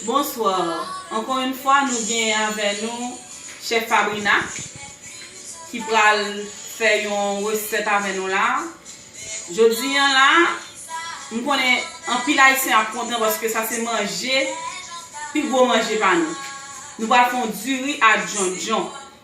Bonsoir ankò yn fwa nou gen avè nou chef fabrina ki pral fè yon resèt avè nou la jodi an la m konnen anpil ayisyen ap kontan paske sa se manje pi gwo manje pa nou nou pral fè yon diri a djondjon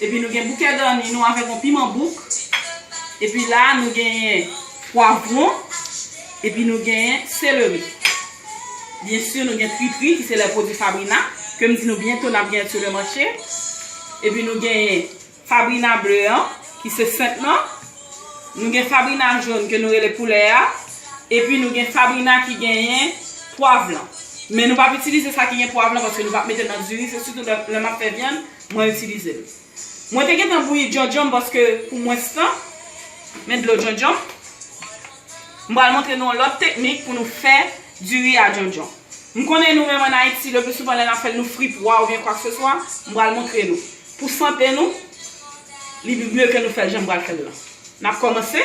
Epi nou gen bouke gani nou avèk yon piman bouk. Epi la nou genyen pwavwon. Epi nou genyen seleri. Byen si nou gen fripri ki se lè pwodwi fabrina. Ke m di nou byento n ap genyen sou le mache. Epi nou genyen fabrina ble an ki se senp nan. Nou gen fabrina joun ke nou rele poulè a. Epi nou gen fabrina ki genyen pwav lan. Men nou pa p itilize sa ki gen pwav lan paske nou pa p mete nan diri. Se sitou lè m ap fè vyann. Mwen itilize l. Mwen te gentan bouyi djondjon m paske pou mwens tan. Men dlo djondjon m. M pral montre nou yon lòt teknik pou nou fè diri a djondjon. M konnen nou menm an Ayiti, le pli souvan lè n ap fè l nou fri pwa oubyen kwakseswa. M pral montre nou. Pou sante nou, li mye ke nou fè l jan m pral fè l lan. N ap kòmanse.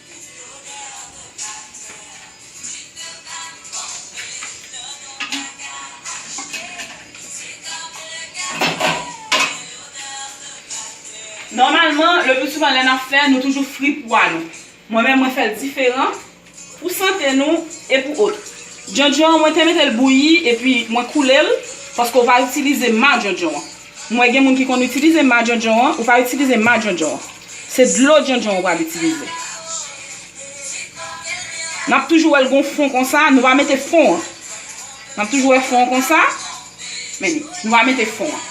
Nòmalman, le pli souvan lè nap fè, nou toujou fri pwa nou. Mwen menm mwen fèl diferan, pou sante nou e pou otr. Djondjon an mwen te metel bouyi epi mwen koulel, paske ou va itilize ma djondjon an. M wè gen moun ki konn itilize ma djondjon an, ou pa itilize ma djondjon an. Se dlo djondjon an ou pral itilize. N ap toujou wè l gon fon konsa, nou pa mete fon an. N ap toujou wè fon an konsa, men ni, nou pa mete fon an.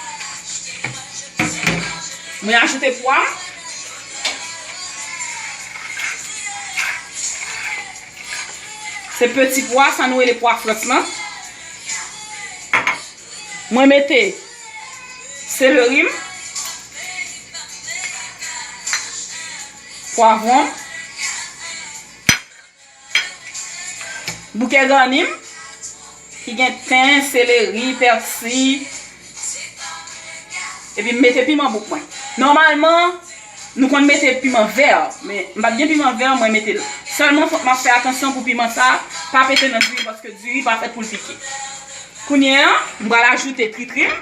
Mwen ajoute pwa. Se peti pwa, sa nou rele pwa frèt lan. Mwen mete seleri m. Pwavwon m. Bouke gani m. Ki gen ten, seleri, pèsi. Epi m mete piman bouk mwen. Nòmalman. Nou konn mete piman vèr, men m pat gen piman vèr mwen metel. Sèlman fòk map fè atansyon pou piman sa pa pete nan diri paske diri pa fèt poul pike. Kounye an, m pral ajoute tritri m.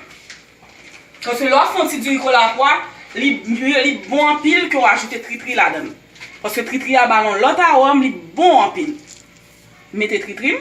Paske lè wap fè yon ti diri kola pwa, li bon anpil ke w ajoute tritri ladann. Paske tritri a bal yon lòt arom, li bon anpil. M mete tritri m.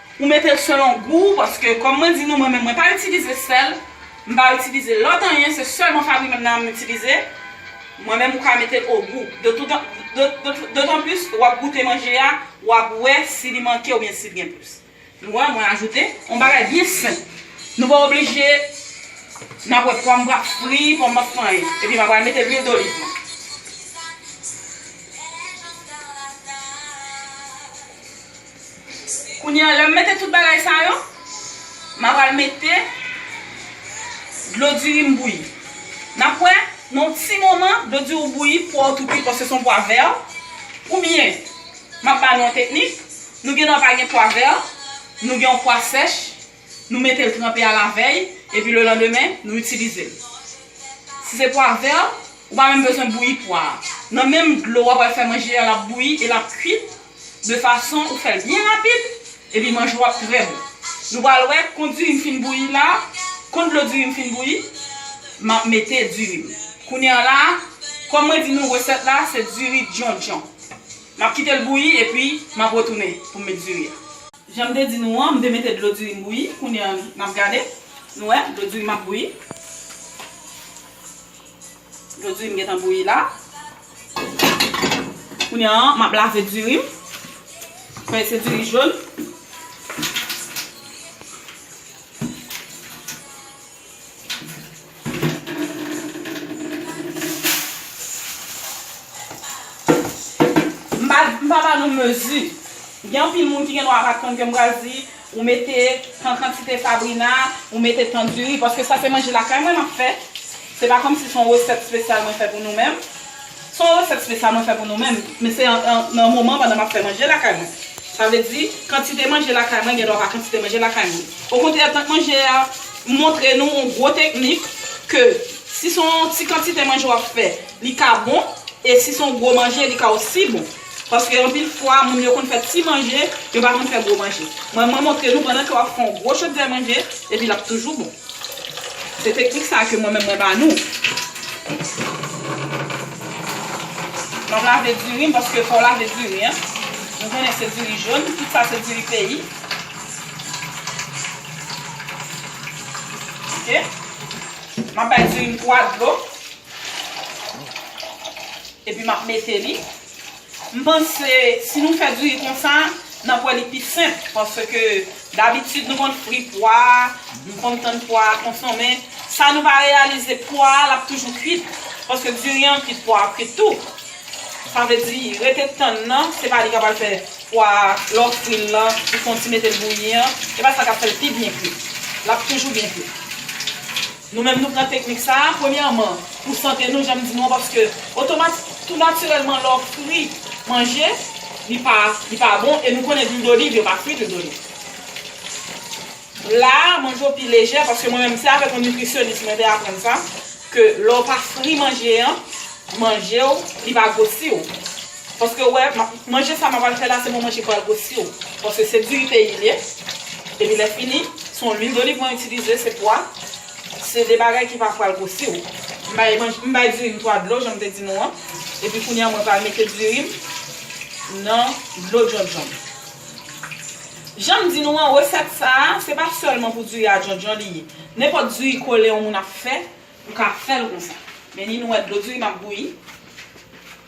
Ou metel selon gou ou paske kom mwen di nou mwen menm mwen pa itilize sel, m pa itilize lot anyen se selman fabri menm nan m itilize, mwen menm ou ka metel o gou dotan plis wap goute manje a wap we si li manke oubyen sil gen plis. Nou we mwen ajoute on bagay byen senp nou pa oblije nap we pwa m pap fri, pwa m pap fri anyen epi m apral mete lwil doliv mwen. Kounye a, lè m mete tout bagay sa yo, m apral mete dlo diri m bouyi. N ap wè, nan yon ti moman, dlo diri ou bouyi, pwa ou tou kuit paske se yon pwa vè. Oubyen, m ap ba nou yon teknik, nou gen dwa pa gen pwa vè, nou gen yon pwa sèch. Nou mete l tranpe a la vèy epi le landemen nou itilize l. Si se pwa vè, ou pa menm bezwen bouyi pwa a. Nan menm dlo w ap al fè manje a l ap bouyi e l ap kuit de fason ou fè l byen rapid epi manje w ap trè bon. Nou pral wè kon diri m fin bouyi la, kon dlo diri m fin bouyi, m ap mete diri m. Kounye an la, kòm mwen di nou resèt la se diri djondjon. M ap kite l bouyi epi m ap retounen pou m met diri a. Jan m te di nou an, m te mete dlo diri m bouyi. Kounye a, n ap gade. Nou wè, dlo diri m ap bouyi. Dlo diri m gentan bouyi la. Kounye a, m ap lave diri m. Fè se diri jòn. M pa m pa ba nou mezi. Gen anpil moun ki gendwa pa konn ke m pral di ou mete tan kantite fabrina, ou mete tan diri paske sa se manje lakay mwen m ap fè. Se pa kòmsi se yon resèt spesyal mwen fè pou nou menm. Son resèt spesyal mwen fè pou nou menm, men se nan moman pandan map fè manje lakay mwen. Sa vle di, kantite manje lakay mwen gen dwa pa kantite manje lakay moun. Okontrè tank manje a montre nou on gwo teknik ke si son ti kantite manje wap fè li ka bon e si son gwo manje li ka osi bon. Paske anpil fwa moun yo konn fè ti manje, yo pa konn fè gwo manje. Mwen mwen montre nou pandan ke wap fè yon gwo chodrè manje, epi lap toujou bon. Se teknik sa ke mwen menm mwen ba nou. Map lave diri m paske fòw lave diri an. Nou konnen se diri jòn, tout sa se diri peyi. Ok. Map bay diri m 3 dlo. Epi map mete li. M panse si nou fè diri konsa, nap wè li pi senp. Paske dabitid nou konn fri pwa, nou konn tann pwa a konson. Men sa nou pa reyalize pwa a lap toujou kwit. Paske diri an kwit, pwa a ap kwit tou. Sa vle di rete tann nan, se pa li kap al fè pwa a, lè w fril lan, ou fon ti metel bouyi an, se pa sa kap fèl pi byen kwit. Lap toujou byen kwit. Nou menm nou pran teknik sa a, premyèman, pou sante nou, jan m di nou an, paske otomat, tou natirèlman, lè w fri manje, li pa, li pa bon, e nou konnen dwil doliv, yo pa fri dwil doliv. La a, manje w pi lejè, paske mwen menm, se avèk yon nitrisyonis mwen te aprann sa, ke lè w pa fri manje an, manje w, li pa gwosi w. Paske ou wè manje sa map al fè la se bon manje pral gwo siw paske se diri peyi liye epi lè fini son lwil doliv mwen itilize se pwa se de bagay ki pa pral gwo siw m bay dirim 3 dlo janm te di nou an epi kounya mwen pral mete dirim nan dlo djondjon janm di nou an resèt sa se pa sèlman pou diri a djondjon li ye nenpòt diri kole yon moun ap fè ou ka fèl konsa mennen nou wè dlo dirim ap bouyi.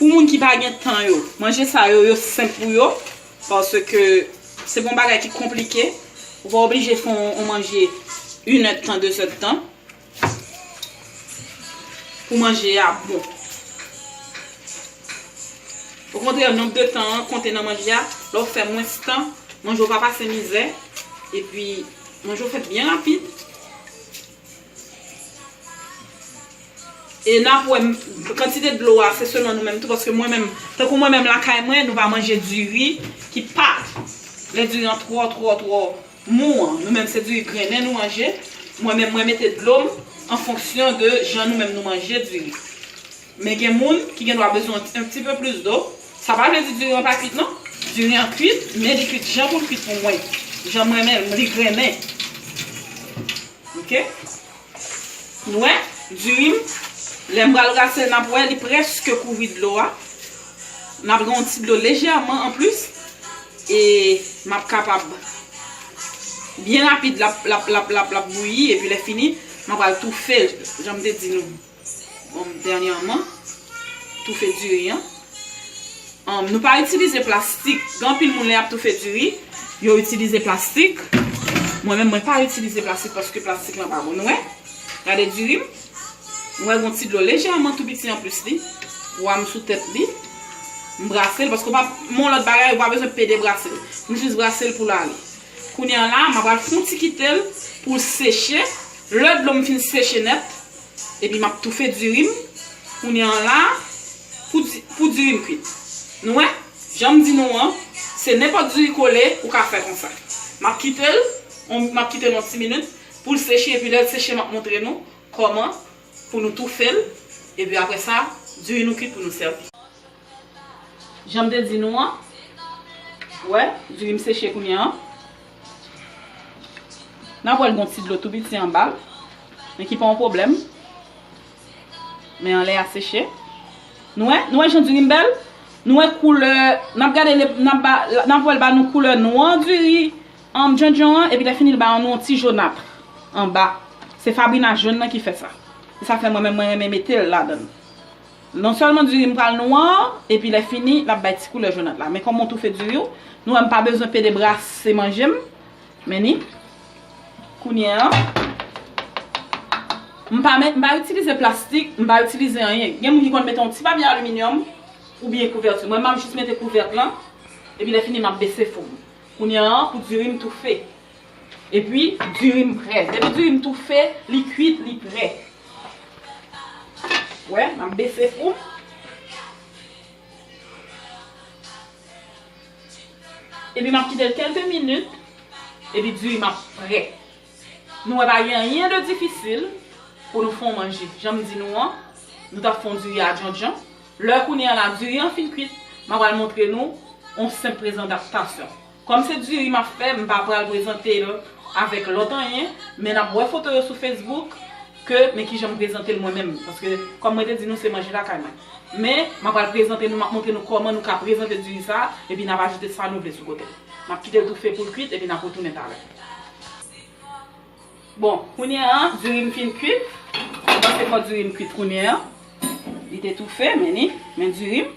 Pou moun ki pa gen tan yo, manje sa yo, yo senp pou yo, paske se pa yon bagay ki konplike, ou pa oblije fè yon manje yn èd tan, de zèd tan, pou manje a bon. Okontrè nonb de tan an konte nan manje a, lè ou fè mwens tan, manje ou pa pase mizè, epi manje ou fèt byen rapid. E nap wè kantite dlo a se selon nou menm tou paske mwen menm tankou mwen menm lakay mwen nou pa manje diri ki pat lè diri an twò twò twò mou an nou menm se diri grennen nou manje mwen menm mwen mete dlo m an fonksyon de jan nou menm nou manje diri. Men gen moun ki gen dwa bezwen un ti peu plus d'eau, sa pa vle di diri an pa kuit non, diri an kuit men li kuit jan poul kuit pou mwen, janm renmen l, li grennen ok nou wè diri m lèm pral rase l nap wè li preske kouvri dlo a, nap gen yon ti dlo lejèman an plis e map kapab byen rapid lap lap lap lap bouyi epi lè fini map pral toufe l janm te di nou. Humm dènyèman toufe diri an Humm nou pa itilize plastik gen anpil moun lè yap toufe diri yo itilize plastik mwen menm mwen pa itilize plastik paske plastik lan pa bon nou wè gade diri m nou wè gon ti dlo lejèman tou piti anplis li pwa m sou tèt li m brase l paske wap m on lòt bagay ou pa bezwen pede brase l m jis brase l pou l ale kounye an la m apral fon ti kite l pou l seche lè dlo m fin seche nèt Epi map toufe diri m kounye an la pou diri m kwit. Nou wè, janm di nou an, se nenpòt diri kole ou ka fè konsa. Map kite l, map kite l yon ti minit pou l seche epi lèl seche map montre nou kòman pou nou toufe l epi aprè sa diri nou kwit pou nou sèvi. Jan m te di nou an. Ou wè, diri m seche kounye an. N ap wè l gen yon ti dlo tou piti anba l. Men ki pa yon pwoblèm. Men anlè a seche. Nou wè? Nou wè jan diri m bèl? Nou wè koulè, n ap gade, n ap wè l ba nou koulè nwa diri djondjon an, epi lèfini l ba nou yon ti jonatr anba. Se fabrina jòn nan ki fè sa. Se sa k fè mwen menm mwen renmen mete l ladan l. Non sèlman diri m pral nwa, epi lè fini, l ap bay ti koulè jonat la. Men kòm mwen toufe diri yo, nou wè m pa bezwen pede brase manje m. Men ni. Kounye an, m pa met, m pa itilize plastik, m pa itilize anyen. Gen moun ki konn mete yon ti papye aliminyòm oubyen kouvèti. Mwen m ap jis mete kouvèt lan, epi lè fini m ap bese fou m. Kounye an, pou diri m toufe. Epi diri m prè. Depi diri m toufe, li kuit, li prè. Ou wè, m ap bese fou m. Epi m ap kite l kelke minit. Epi diri m ap prè. Nou wè pa gen anyen de difisil pou nou fon manje. Jan m di nou an, nou t ap fon diri a djondjon. Lè kounye a la diri an fin kuit, m a pral montre nou yon senp prezantasyon. Kòm se diri map fè m pa pral prezante l avèk lòt anyen men nap wè foto yo sou Facebook ke men kijan m prezante l mwen menm paske kòm mwen te di nou se manje lakay mwen men map pral prezante nou map montre nou kòman nou ka prezante diri sa epi nap ajoute sa nou vle sou kote l map kite l toufe pou l kwit epi nap retounen talè bon kounye an diri m fin kwit mwen panse fò diri m kwit kounye an li te toufe men li men diri m.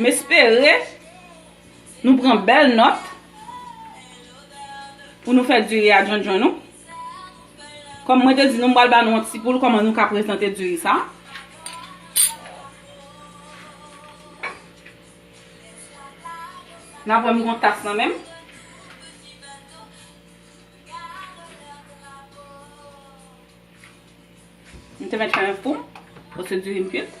M espere nou pran bèl nòt pou nou fè diri a djondjon nou. Kòm mwen te di nou m pral ba nou yon ti kou kòman nou ka prezante diri sa. N ap wè m gen yon tas nan menm. M te mèt fè yon fou pou se diri m kuit.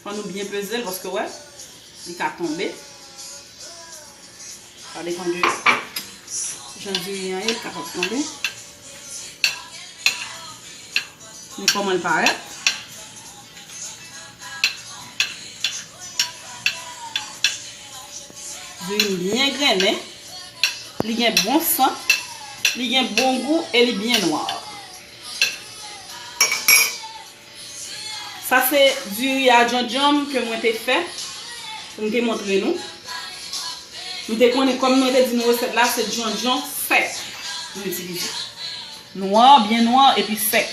Fò nou byen peze l paske wè li ka tonbe. Sa depan de jan diri an ye li kapab tonbe. Men kòman l parèt. Diri m byen grennen, li gen bon sant, li gen bon gou e li byen nwa. Sa se diri a djondjon m ke mwen te fè, pou m te montre nou. M te konnen kòm mwen te di nou resèt la se djondjon sèk pou m itilize. Nwa, byen nwa epi sèk.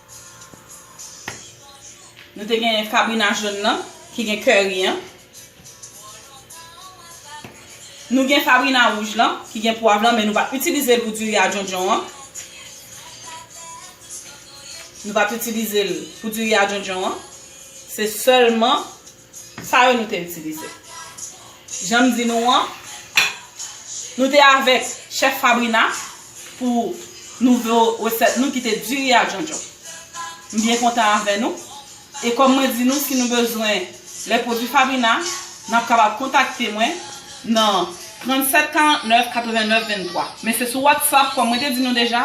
Nou te gen kabrina jòn nan ki gen curry an. Nou gen kabrina wouj lan ki gen pwav lan men nou pa itilize l pou diri a djondjon an. Nou pa itilize l pou diri a djondjon an. Se sèlman Sa yo nou te itilize. Jan m di nou an, nou te avèk chèf Fabrina pou nouvo resèt nou ki te diri a djondjon. M byen kontan avè nou. E kòm mwen di nou si nou bezwen lè pwodui Fabrina, n ap kapab kontakte mwen nan 37 49 89 23. Men se sou WhatsApp kòm mwen te di nou deja,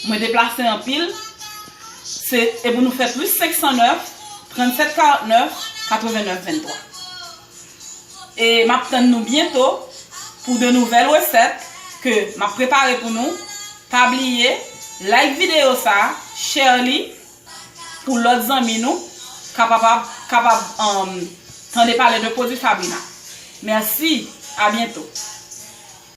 mwen deplase anpil. Se e pou nou fè plis 509 37 49 89 23 e map tann nou byento pou de nouvèl resèt ke map prepare pou nou pa bliye like video sa share li pou lòt zanmi nou kapapab kapab anm tande pale de pwodwi Fabrina mèsi a byento.